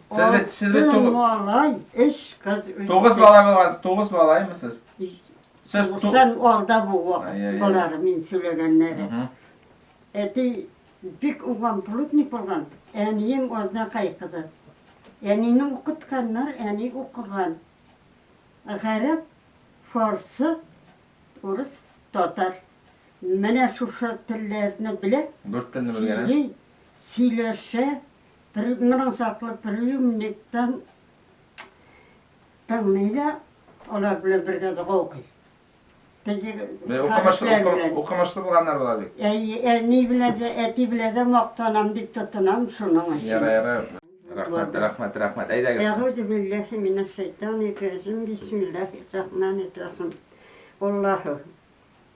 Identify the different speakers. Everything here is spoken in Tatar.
Speaker 1: Сезле, сезле тугыз... Малай,
Speaker 2: эш кыз...
Speaker 1: Тугыз бала булгансыз, тугыз балаймысыз? Сез тугыздан
Speaker 2: алда бу балалары мин
Speaker 1: сөйләгәннәре.
Speaker 2: Әти бик уган плотник булган, әнием Азнакай кызы. Әнине укытканнар, әни укыган. Гарәп, фарсы, урыс, татар. Менә шушы телләрне белә. Дүрт телне белгән.
Speaker 1: Сөйләшә.
Speaker 2: Пер, моның саклы приемниктан тыңлый да, алар белән бергә дога укый.
Speaker 1: Укымышлы булганнар була бит. Әни белән
Speaker 2: дә, әти белән дә мактанам дип тотынам шуның өчен. Яра, яра.
Speaker 1: Рәхмәт, рәхмәт, рәхмәт. Әйдәгез. Әгәүзу билләһи минәш
Speaker 2: шайтанир рәҗим. Бисмиллаһир рахманир рахим. Аллаһу